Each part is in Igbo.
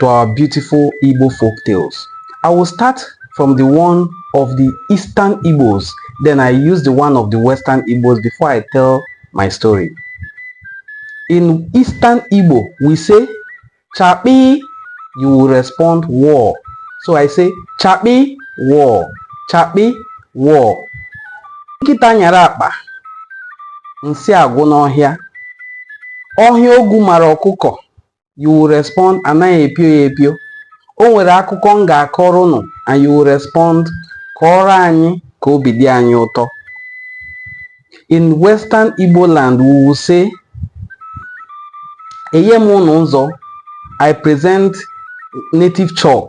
to our beautiful Igbo folk tales. I will start from the one of the Eastern Igbos, then I use the one of the Western Igbos before I tell my story. In Eastern Igbo, we say, Chapi, you will respond war. So I say, Chapi, war. Chapi, war. Nkịta nyara akpa, nsị agwụ n'ọhịa. Ọhịa ogwu mara ọkụkọ, you will respond anaghị epio ya epio o nwere akụkọ m ga-akọrọ unu and you will respond kọọrọ anyị ka obi dị anyị ụtọ in western igbo land we will say enye m unu nzu i present native chalk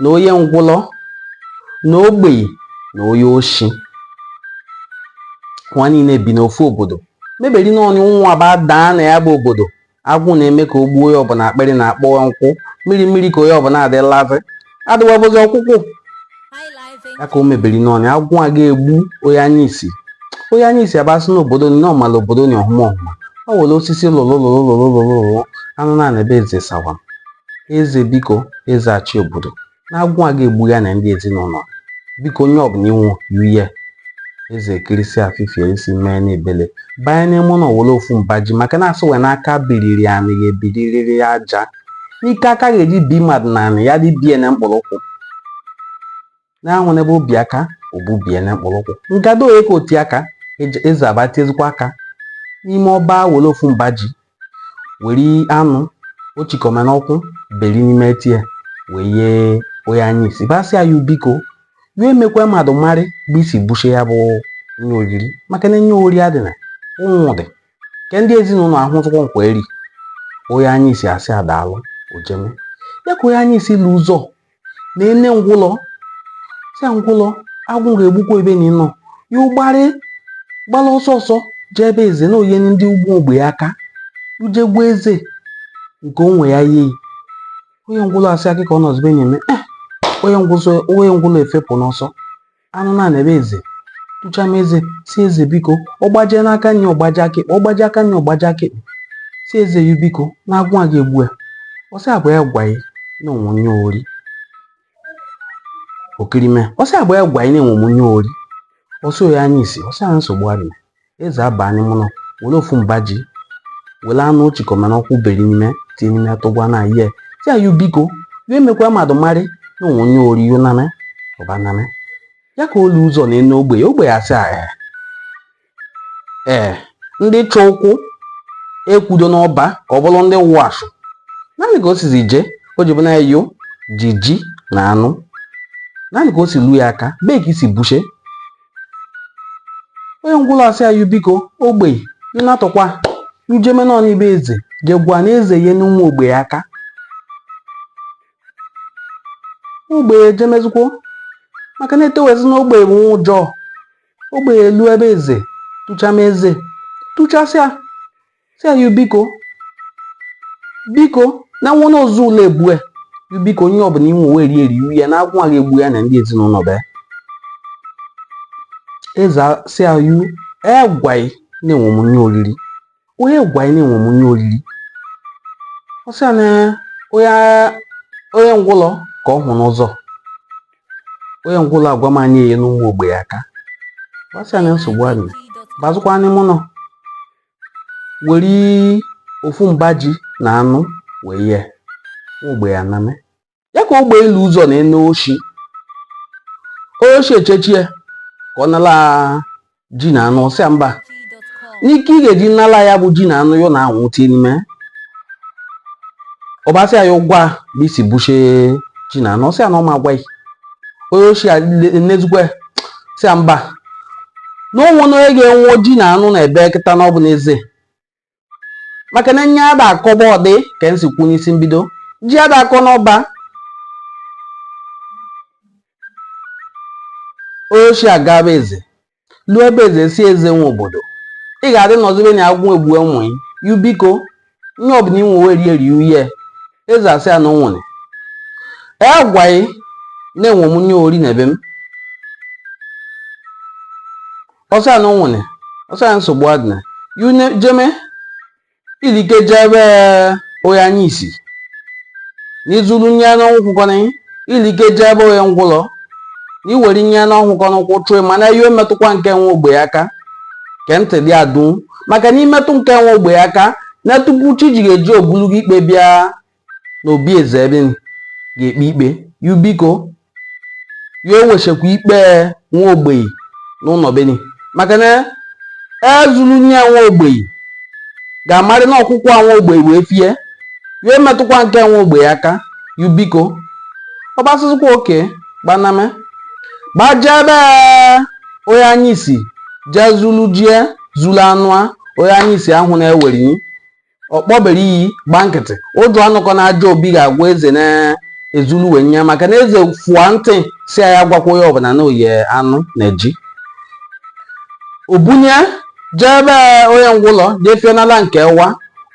na onye ngwụlọ na ogbei na onye oshi wa niile bi n'ofu obodo meberi na ụnwụ aba daa na ya bụ obodo agwụ na-eme ka o gbuo onye ọbụla akpịrị na-akpọ nkwụ mmiri mmiri ka onye ọbụla adịlazi adịwabozi ọkwụkwụ ya ka o meberi n'ụnwụ agwụ a ga-egbu onye anya isi onye anya isi aba si n'obodo ni ọ mala obodo ni ọhụma ọhụma ọ were osisi lụrụ lụrụ lụrụ lụrụ anụ na ebe eze sawa eze biko eze achị obodo na agwụ a ga-egbu ya na ndị ezinụlọ biko onye ọbụla inwu yuye eze ekirisịa fifie isi mee n'ebele banye n'ime ụnọ were ofu mba ji maka na asị wee n'aka biriri anị ya ebiriri ya aja n'ike aka ga-eji bi mmadụ na anị ya dibie na mkpụrụ ụkwụ na-anwụ n'ebe obi aka o bu bie na mkpụrụ ụkwụ ngado onye ka oti aka eze aba tiezikwa aka n'ime ọba were ofu mba ji were anụ ochikọma n'ọkwụ beri n'ime tie wee ye onye anya isi ba sị ya biko ya emekwa mmadụ marị bụ isi buchie ya bụ nye oriri maka na nye ori adịna ụnwụ dị nke ndị ezinụlọ ahụ tụkwọ nke wa eri onye anya isi asị a daalụ o jeme ya ka onye anya isi lu ụzọ na ene ngwụlọ sị a ngwụlọ agwụ ga-egbukwa ebe na ịnọ ya ụgbarị gbala ọsọ ọsọ jee ebe eze na o ye ndị ugwu ogbei aka u je gwa eze nke onwe ya ye i onye ngwụlọ asị a kịka ọ nọzibe na-eme eh, onye ngwụlọ efepụ n'ọsọ anụ na-ana ebe eze tụcha m eze sị eze biko ọ gbajie aka nni ọ gbajie aka ekpe ọ gbajie aka nni ọ gbajie aka ekpe sị eze ya biko na agwụ a ga-egbu ya ọ sị a bụ onye gwa ya na o nwe nye ori okirime ọ sị a bụ onye gwa i na enwe m nye ori ọ sị onye anya isi ọ sị a nsogbu adịa eze abaa n'ime ụnọ were ofu mba ji were anụ ochikọma n'ọkwụ beri n'ime tinye n'ime atụgwa na ihe sị ya biko ya emekwa mmadụ marị na o nwe nye ori yo name ọba name ya ka o lu ụzọ na ene ogbei ogbei asị ee ee ndị chukwu ekwudo n'ọba ka ọ bụrụ ndị wụ asụ naanị ka o sizi jee o ji bụ na yo ji ji na anụ naanị ka o si lu ya aka bee ka isi buche onye ngwụlọ asị ayụ biko ogbei nnatụkwa njeme n'ọnụ ibe eze jegwa na eze ye n'ụmụ ogbei aka ogbei ejemezikwo maka na etewezi na ogbei bụ ụjọ ogbei elu ebe eze tụchama eze tụchasịa sị ya biko biko na nwa n'ozu ụlọ egbue biko nye ọbụla i nwe wee eri eri ya na agwụ ga-egbu ya na ndị ezinụlọ be eze sị ya onye gwa ị na enwe m nye oriri onye gwa ị na enwe m nye oriri ọ sị ya na onye ngwụlọ ka ọ hụ n'ụzọ onye ngwụlọ agwa m na ị na-enye ụmụ ogbenye aka asị ya na nsogbu adị bazikwa n'ime ụnọ were ofu mba ji na anụ wee nye ogbenye aname ya ka ogbenye lu ụzọ na onye oshi onye oshi echechie ka ọ nala ji na anụ ọ sị ya mba n'ike ị ga-eji nala ya bụ ji na anụ ya na anwụ tie n'ime ọ ba sị ya yu gwa ebe i si buchie ji na anụ ọ sị ya na ọ ma agwa ị onye oshi enezikwa ya sị ya mba na o nwene onye ga-enwe ji na anụ n'ebe a kịta na ọ bụ n'eze maka na nye ada akọ be ya dị ka m si kwuo n'isi mbido ji ada akọ n'ọba onye oshi agaba be eze Luo be eze sị eze nwe obodo. Ị ga-adị nọzibe na agwụ egbue nwa ị. Yu biko, nye ọbụla i nwe wee rie rie uye. Eze asị ya na o nwene. E gwa ị na enwe m nye ori na ebe m. Ọ sị ya na o nwene. Ọ sị ya nsogbu adịna. Yu jeme ilike jee be onye anya isi na i zuru nye n'ọnwụkwụkọrị ilike jee be onye ngwụlọ na i were nye n'ọnwụkọ n'ụkwụ chụọ mana ya emetụkwa nke nwa ogbenye aka ke ntị dị adụ maka na i metụ nke nwa ogbenye aka na tupu chi ji ga-eji o bulu gị ikpe bịa na obi eze ebe ga-ekpe ikpe yu biko ya ewechekwa ikpe nwa ogbenye n'ụlọ beni maka na e zuru nye nwa ogbenye ga-amarị na ọkwụkwọ nwa ogbenye wee fie ya emetụkwa nke nwa ogbenye aka yu biko ọ gbasịzikwa oke gbaname gbajee be onye anya isi jee zulu ji zulu anụ a onye anya isi ahụna e were ọ kpọbere iyi gba nkịtị ụjọ anụkọ na ajọ obi ga-agwa eze na ezulu wee nye maka na eze fụa ntị sị ya agwakwa onye ọbụla na o nye anụ na ji o bunyie jee be onye ngwụlọ jee fienala nke wa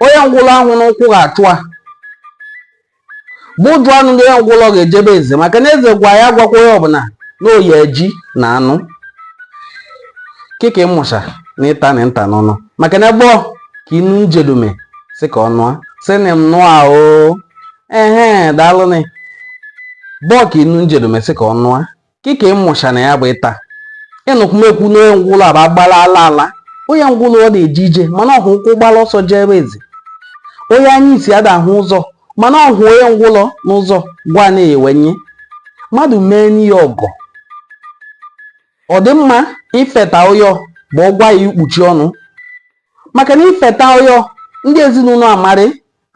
onye ngwụlọ ahụna ụkwụ ga-achụ a bụ ụjọ anụ ndị onye ngwụlọ ga-eje be eze maka na eze gwa ya agwakwa onye ọbụla na o nye ji na anụ kịka ị mụcha na ịta na nta n'ọnụ maka na ebe ka inu m jedume sị ka ọ nụa sịnị m nnụa o ehe daalụnị bọọ ka inu m jedume sị ka ọ nụa kika ịmụcha na ya bụ ịta ịnụkwumekwu na onye ngwụlọ aba gbara ala ala onye ngwụlọ ọ da eje ije mana ọ hụ ụkwụ gbara ọsọ je be eze onye anya isi ada ahụ ụzọ mana ọ hụ onye ngwụlọ n'ụzọ gwa na-ewe nye mmadụ meeni ya ọgọ ọ dị mma ifeta ụyọ bụ ọ gwa ya ikpuchi ọnụ maka na ifeta ụyọ ndị ezinụlọ amarị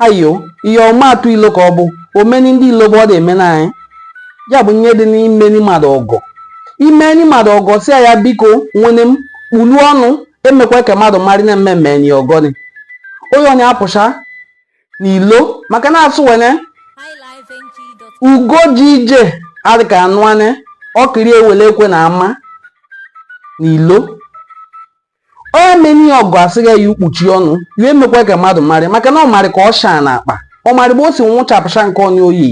ayo ihe ọma atụ ilo ka ọ bụ omeni ndị ilo bụ ọ da emeni anyị ya bụ nye dị n'imeni mmadụ ọgọ imeni mmadụ ọgọ si ya biko nwene m kpulu ọnụ emekwa ka mmadụ marị na m emeni yi ọgọ ni onye ọ na-apụcha n'ilo maka na asụ wene ugo ji ije adị ka anụ ane ọkiri ewele ekwe na ama n'ilo onye meni ọgọ asị ya kpuchi ọnụ ya emekwa ka mmadụ marị maka na ọ marị ka ọ shaa na akpa ọ marị bụ o si nwụchapụcha nke onye oyi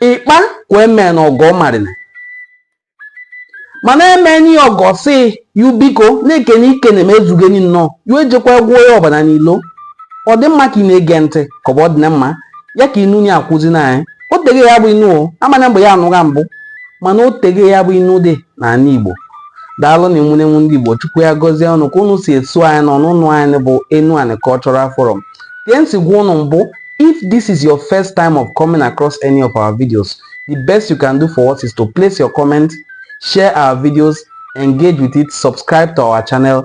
ịkpa ka eme na ọgọ marịna mana emeni ọgọ si yu biko na ekene i kene m ezugo ni nnọọ yu ejekwa gwuo ya ọbara n'ilo ọ dị mma ka ị na-ege ntị ka ọ bụ ọ dị na mma ya ka inu ni akuzini anyị o tege ya bụ inu o amana mgbe ya anụgha mbụ mana o tege ya bụ inu dị n'ana Igbo daalụ nụ ụmụnne m ndị Igbo Chukwu ya gọzie unu ka unu si eso anyị na ọnụnụ anyị bụ Enuani Cultural Forum ka m si gwa unu mbụ if this is your first time of coming across any of our videos the best you can do for us is to place your comment share our videos engage with it subscribe to our channel